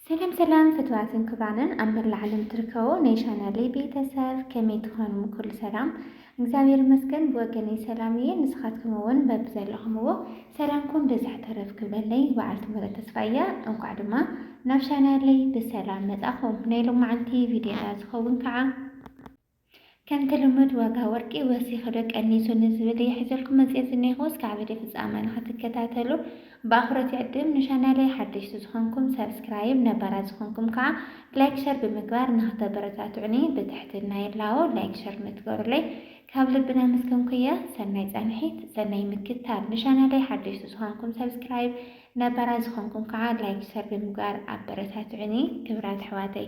ሰላም ሰላም ፍትዋትን ክብራንን ኣብ መላእ ዓለም ትርከቡ ናይ ቻናለይ ቤተሰብ ከመይ ትኾኑ? ኩሉ ሰላም እግዚኣብሔር ይመስገን ብወገነይ ሰላም እየ። ንስኻትኩም እውን በብዘለኹምዎ ሰላምኩም ብዝሕ ተረፍ ክብለለይ በዓልቲ ምረት ተስፋ እያ። እንኳዕ ድማ ናብ ቻናለይ ብሰላም መጻኹም። ናይ ሎማዓንቲ ቪድዮና ዝኸውን ከዓ ከምቲ ልሙድ ዋጋ ወርቂ ወሲኹ ዶ ቀኒሱ ንዝብል እየ ሒዘልኩም መጺኤ ዝኔኹ እስካዕ ቪድዮ ፍጻመ ንኽትከታተሉ ብኣኽብሮት ይዕድም ንቻናለይ ሓደሽቲ ዝኾንኩም ሳብስክራይብ ነባራት ዝኾንኩም ከኣ ላይክ ሸር ብምግባር ንኽተበረታትዑኒ ብትሕትና ይላቦ ላይክ ሸር ንትገሩለይ ካብ ልቢ ናመስገንኩ እየ ሰናይ ጻንሒት ሰናይ ምክታል ንቻናለይ ሓደሽቲ ዝኾንኩም ሳብስክራይብ ነባራት ዝኾንኩም ከኣ ላይክ ሸር ብምግባር ኣበረታትዑኒ ክብራት ኣሕዋተይ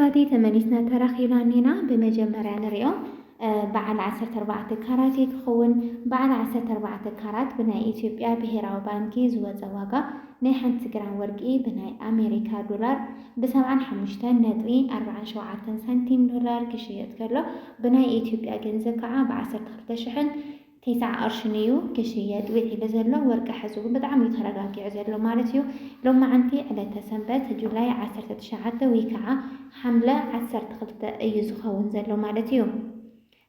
ኣሕዋተይ ተመሊስና ተራኺብና እኒና ብመጀመርያ ንሪኦ በዓል 14 ካራት እዩ ክኸውን በዓል 14 ካራት ብናይ ኢትዮጵያ ብሄራዊ ባንኪ ዝወፀ ዋጋ ናይ ሓንቲ ግራም ወርቂ ብናይ ኣሜሪካ ዶላር ብ75 ነጥቢ 47 ሳንቲም ዶላር ክሽየጥ ከሎ ብናይ ኢትዮጵያ ገንዘብ ከዓ ብ ዓሰርተ ክልተ ሽሕን ቴስዓ ቅርሽን እዩ ክሽየጥ ዊዒሉ ዘሎ። ወርቂ ሐዚ እውን ብጣዕሚ እዩ ተረጋጊዑ ዘሎ ማለት እዩ። ሎማዓንቲ ዕለተ ሰንበት ጁላይ ዓሰርተ ትሽዓተ ውይ ከዓ ሓምለ ዓሰርተ ክልተ እዩ ዝኸውን ዘሎ ማለት እዩ።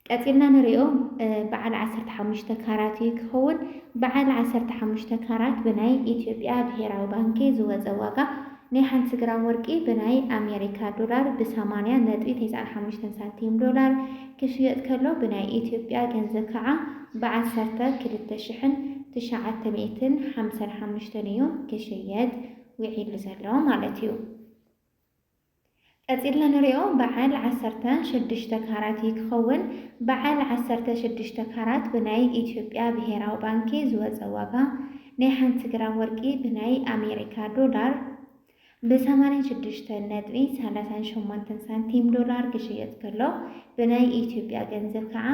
ቀፂልና ንሪኦ በዓል ዓሰርተ ሓሙሽተ ካራት እዩ ክኸውን። በዓል ዓሰርተ ሓሙሽተ ካራት ብናይ ኢትዮጵያ ብሄራዊ ባንኪ ዝወፀ ዋጋ ናይ ሓንቲ ግራም ወርቂ ብናይ ኣሜሪካ ዶላር ብ ሰማንያ ነጥቢ ቴስዓን ሓሙሽተን ሳንቲም ዶላር ክሽየጥ ከሎ ብናይ ኢትዮጵያ ገንዘብ ከዓ ብ ዓሰርተ ክልተ ሽሕን ትሽዓተ ሚእትን ሓምሳን ሓሙሽተን እዩ ክሽየጥ ዊዒሉ ዘሎ ማለት እዩ። ቀጺልና ንሪኦ በዓል ዓሰርተ ሽዱሽተ ካራት እዩ ክኸውን። በዓል ዓሰርተ ሽዱሽተ ካራት ብናይ ኢትዮጵያ ብሄራዊ ባንኪ ዝወጸ ዋጋ ናይ ሓንቲ ግራም ወርቂ ብናይ ኣሜሪካ ዶላር ብ ሰማንያን ሽዱሽተን ነጥቢ ሰላሳን ሸሞንተን ሳንቲም ዶላር ክሽየጥ ከሎ ብናይ ኢትዮጵያ ገንዘብ ከዓ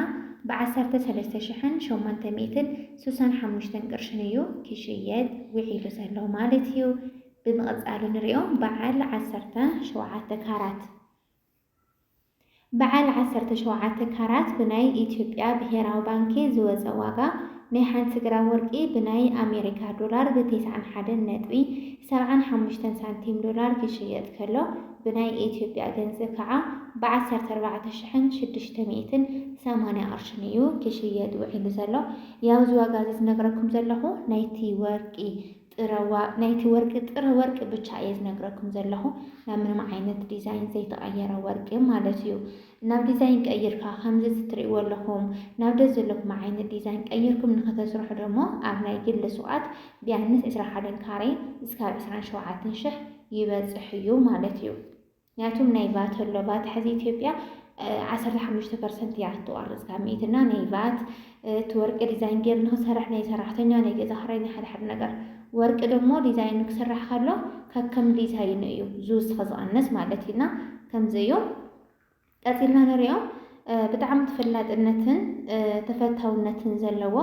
ብ ዓሰርተ ሰለስተ ሽሕን ሸሞንተ ሚእትን ስሳን ሓሙሽተን ቅርሽን እዩ ክሽየጥ ውዒሉ ዘሎ ማለት እዩ። ብምቕጻል እንሪኦ በዓል ዓሰርተ ሸውዓተ ካራት። በዓል ዓሰርተ ሸውዓተ ካራት ብናይ ኢትዮጵያ ብሄራዊ ባንኪ ዝወጸ ዋጋ ናይ ሓንቲ ግራም ወርቂ ብናይ ኣሜሪካ ዶላር ብ ተስዓን ሓደን ነጥቢ ሰብዓን ሓሙሽተን ሳንቲም ዶላር ክሽየጥ ከሎ ብናይ ኢትዮጵያ ገንዝብ ከዓ ብ ዓሰርተ ኣርባዕተ ሽሕን ሽዱሽተ ሚእትን ሰማንያ ቅርሽን እዩ ክሽየጥ ውዒሉ ዘሎ። ያው እዚ ዋጋ እዚ ዝነግረኩም ዘለኹ ናይቲ ወርቂ ጥረዋ ናይቲ ወርቂ ጥረ ወርቂ ብቻ እየ ዝነግረኩም ዘለኹ ናብ ምንም ዓይነት ዲዛይን ዘይተቀየረ ወርቂ ማለት እዩ ናብ ዲዛይን ቀይርካ ከምዚ እዚ ትርእይዎ ኣለኹም ናብ ደስ ዘለኩም ዓይነት ዲዛይን ቀይርኩም ንክተስርሑ ደሞ ኣብ ናይ ግሊ ሱቃት ቢያንስ ዕስራ ሓደን ካሬ እስካብ ዕስራን ሸውዓትን ሽሕ ይበፅሕ እዩ ማለት እዩ። ምክንያቱም ናይ ቫት ኣሎ ቫት ሐዚ ኢትዮጵያ ዓሰርተ ሓሙሽተ ፐርሰንት እያ እትቆርፅ ካብ ሚእቲ እና ናይ ቫት እቲ ወርቂ ዲዛይን ገይሩ ንክሰርሕ ናይ ሰራሕተኛ ናይ ገዛ ክራይ ናይ ሓደ ሓደ ነገር ወርቂ ደሞ ዲዛይን ንክስራሕ ከሎ ከከም ዲዛይኑ እዩ ዝውስኸ ዝቐነስ ማለት እዩና ከምዚ እዩ ቀፂልና ንሪኦ ብጣዕሚ ተፈላጥነትን ተፈታውነትን ዘለዎ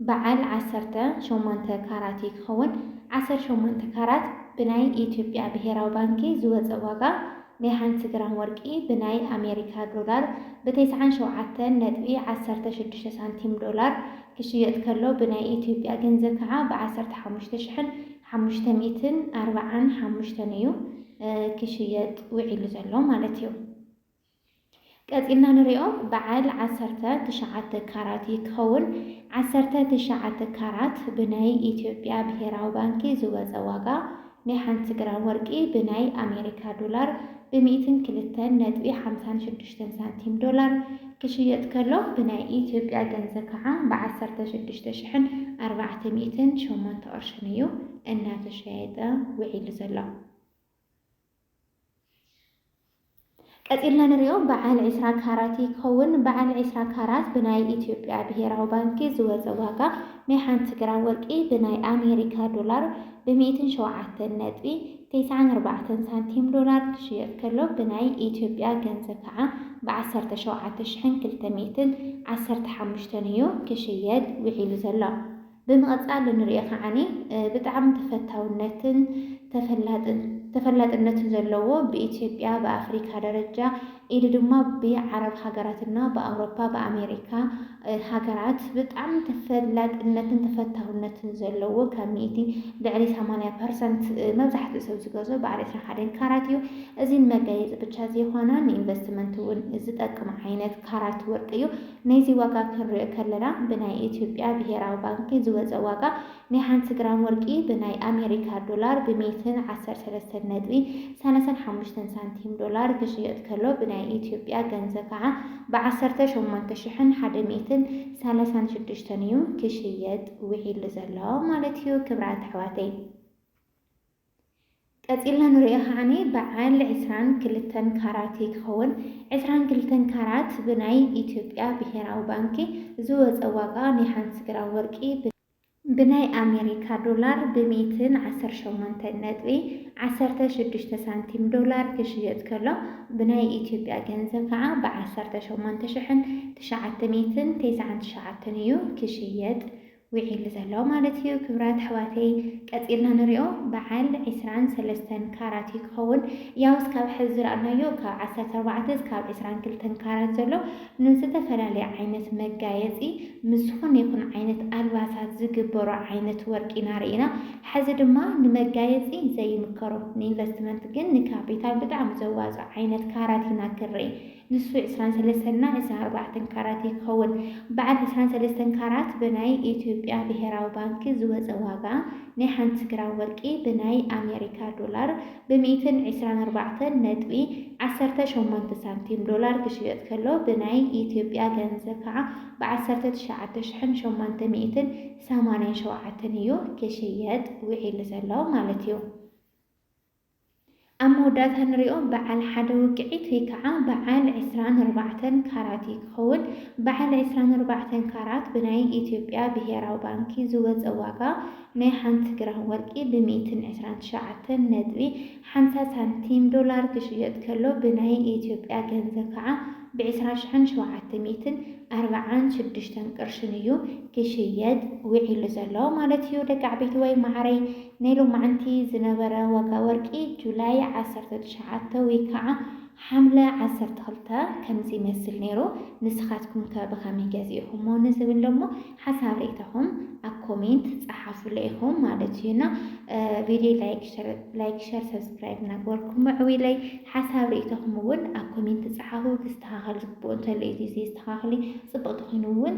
በዓል ዓሰርተ ሸሞንተ ካራት እዩ ክኸውን። ዓሰርተ ሸሞንተ ካራት ብናይ ኢትዮጵያ ብሄራዊ ባንኪ ዝወፀ ዋጋ ናይ ሓንቲ ግራም ወርቂ ብናይ ኣሜሪካ ዶላር ብ ተስዓን ሸውዓተን ነጥቢ ዓሰርተ ሽዱሽተ ሳንቲም ዶላር ክሽየጥ ከሎ ብናይ ኢትዮጵያ ገንዘብ ከዓ ብ ዓሰርተ ሓሙሽተ ሽሕን ሓሙሽተ ሚእትን ኣርባዓን ሓሙሽተን እዩ ክሽየጥ ውዒሉ ዘሎ ማለት እዩ። ቀጺልና ንሪኦ በዓል ዓሰርተ ትሽዓተ ካራት እዩ ክኸውን። ዓሰርተ ትሽዓተ ካራት ብናይ ኢትዮጵያ ብሄራዊ ባንኪ ዝወጸ ዋጋ ናይ ሓንቲ ግራም ወርቂ ብናይ ኣሜሪካ ዶላር ብ ሚእትን ክልተን ነጥቢ ሓምሳን ሽዱሽተን ሳንቲም ዶላር ክሽየጥ ከሎ ብናይ ኢትዮጵያ ገንዘብ ከዓ ብ ዓሰርተ ሽዱሽተ ሽሕን ኣርባዕተ ሚእትን ሸሞንተ ቅርሽን እዩ እናተሸየጠ ውዒሉ ዘሎ። ቀጺልና ንሪኦ በዓል ዕስራ ካራት ይከውን። በዓል ዕስራ ካራት ብናይ ኢትዮጵያ ብሄራዊ ባንኪ ዝወጸ ዋጋ ናይ ሓንቲ ግራም ወርቂ ብናይ ኣሜሪካ ዶላር ብ ሚእትን ሸውዓተን ነጥቢ ቴስዓን ኣርባዕተን ሳንቲም ዶላር ክሽየጥ ከሎ ብናይ ኢትዮጵያ ገንዘብ ከዓ ብ ዓሰርተ ሸውዓተ ሽሕን ክልተ ሚእትን ዓሰርተ ሓሙሽተን እዩ ክሽየጥ ውዒሉ ዘሎ። ብምቕጻል እንርእዮ ከዓኒ ብጣዕሚ ተፈታውነትን ተፈላጥነትን ዘለዎ ብኢትዮጵያ ብኣፍሪካ ደረጃ ኢሉ ድማ ብዓረብ ሃገራት እና ብኣውሮፓ ብኣሜሪካ ሃገራት ብጣዕሚ ተፈላጥነትን ተፈታውነትን ዘለዎ ካብ ሚእቲ ልዕሊ ሰማንያ ፐርሰንት መብዛሕትኡ ሰብ ዝገዝኦ በዓል ዕስራን ሓደን ካራት እዩ። እዚ ንመጋየፂ ብቻ ዘይኾነ ንኢንቨስትመንት እውን ዝጠቅም ዓይነት ካራት ወርቂ እዩ። ናይዚ ዋጋ ክንሪኦ ከለና ብናይ ኢትዮጵያ ብሄራዊ ባንኪ ዝወፀ ዋጋ ናይ ሓንቲ ግራም ወርቂ ብናይ ኣሜሪካ ዶላር ብሜትን ዓሰርተ ሰለስተን ነጥቢ ሰላሳን ሓሙሽተን ሳንቲም ዶላር ክሽየጥ ከሎ ብናይ ኢትዮጵያ ገንዘብ ከዓ ብዓሰርተ ሸሞንተ ሽሕን ሓደ ሚእትን ሰላሳን ሽዱሽተን እዩ ክሽየጥ ውዒሉ ዘሎ ማለት እዩ ክብራት ኣሕዋተይ። ቀጺልና ንርእዮ ከዓኒ በዓል ዕስራን ክልተን ካራት እዩ ክኸውን። ዕስራን ክልተን ካራት ብናይ ኢትዮጵያ ብሄራዊ ባንኪ ዝወጸ ዋጋ ናይ ሓንቲ ግራም ወርቂ ብ። ብናይ ኣሜሪካ ዶላር ብ ሚእትን ዓሰርተ ሸሞንተን ነጥቢ ዓሰርተ ሽዱሽተ ሳንቲም ዶላር ክሽየጥ ከሎ ብናይ ኢትዮጵያ ገንዘብ ከኣ ብ ዓሰርተ ሸሞንተ ሽሕን ትሽዓተ ሚእትን ተስዓን ትሽዓተን እዩ ክሽየጥ ዊዒሉ ዘሎ ማለት እዩ ክብራት ኣሕዋተይ ቀጺልና ንሪኦ በዓል ዕስራን ሰለስተን ካራት እዩ ክኸውን ያው እስካብ ሐዚ ዝረኣናዮ ካብ ዓሰርተ ኣርባዕተ እስካብ ዕስራን ክልተን ካራት ዘሎ ንዝተፈላለየ ዓይነት መጋየጺ ምስ ዝኾነ ይኹን ዓይነት ኣልባሳት ዝግበሩ ዓይነት ወርቂ ኢና ሪኢና ሐዚ ድማ ንመጋየጺ ዘይምከሩ ንኢንቨስትመንት ግን ንካፒታል ብጣዕሚ ዘዋጽእ ዓይነት ካራት ኢና ክንሪኢ ንሱ ዕስራን ሰለስተን እና ዕስራ ኣርባዕተን ካራት እዩ ክኸውን። በዓል ዕስራን ሰለስተን ካራት ብናይ ኢትዮጵያ ብሄራዊ ባንኪ ዝወፀ ዋጋ ናይ ሓንቲ ግራም ወርቂ ብናይ ኣሜሪካ ዶላር ብሚኢትን ዕስራን ኣርባዕተን ነጥቢ ዓሰርተ ሸሞንተ ሳንቲም ዶላር ክሽየጥ ከሎ ብናይ ኢትዮጵያ ገንዘብ ከዓ ብዓሰርተ ትሽዓተ ሽሕን ሸሞንተ ሚኢትን ሰማንያን ሸውዓተን እዩ ክሽየጥ ውዒሉ ዘሎ ማለት እዩ። ኣብ መወዳእታ ንሪኦ በዓል ሓደ ውቅዒት ወይ ከዓ በዓል ዕስራን ኣርባዕተን ካራት እዩ ክኸውን። በዓል ዕስራን ኣርባዕተን ካራት ብናይ ኢትዮጵያ ብሄራዊ ባንኪ ዝወፀ ዋጋ ናይ ሓንቲ ግራም ወርቂ ብ ሚእትን ዕስራን ትሽዓተን ነጥቢ ሓምሳ ሳንቲም ዶላር ክሽየጥ ከሎ ብናይ ኢትዮጵያ ገንዘብ ከዓ ብ ዕስራ ሽሕን ሸውዓተ ሚእትን ኣርብዓን ሽዱሽተን ቅርሽን እዩ ክሽየጥ ውዒሉ ዘሎ ማለት እዩ። ደቂ ዓበይትወይ መዓረይ ናይ ሎማዕንቲ ዝነበረ ዋጋ ወርቂ ጁላይ ዓሰርተ ትሽዓተ ውይ ካዓ ሓምለ ዓሰርተ ክልተ ከምዚ ይመስል ነይሩ ንስካትኩም ከ ብከመይ ገዚእኩሞ ንዝብል ደሞ ሓሳብ ሪኢታኩም ኣብ ኮሜንት ፃሓፉለይ ኢኩም ማለት እዩ እና ቪድዮ ላይክ ሸር ሰብስክራይብ እናገበርኩም ምዕብለይ ሓሳብ ሪኢታኩም እውን ኣብ ኮሜንት ፃሓፉ ክስተካከል ዝግብኦ እንተሎ እዩ ዘይስተካክል ፅብቅ ተኮይኑ እውን